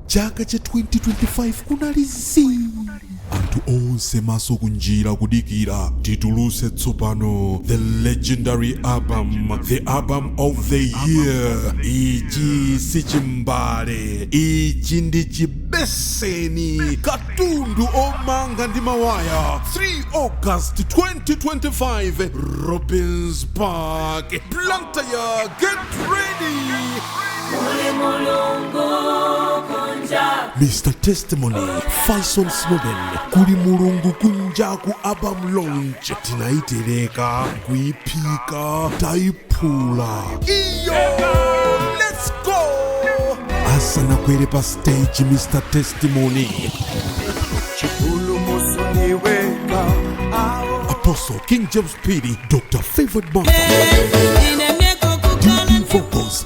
chaka cha 2025 kunali zii anthu onse maso kunjira kudikira tituluse tsopano the legendary album the album of the year ichi si chimbale ichi ndi chibeseni katundu omanga ndi mawaya 3 august 2025 robins park blantyre get ready Mr Testimony Faison Snoben kuli mulungu kunjaku album launch tinaitereka kuiphika taiphula iyo let's go asanakwere pa stage Mr Testimony Apostle King James Piri Dr Favored Mark Ine mieko kukala Vocals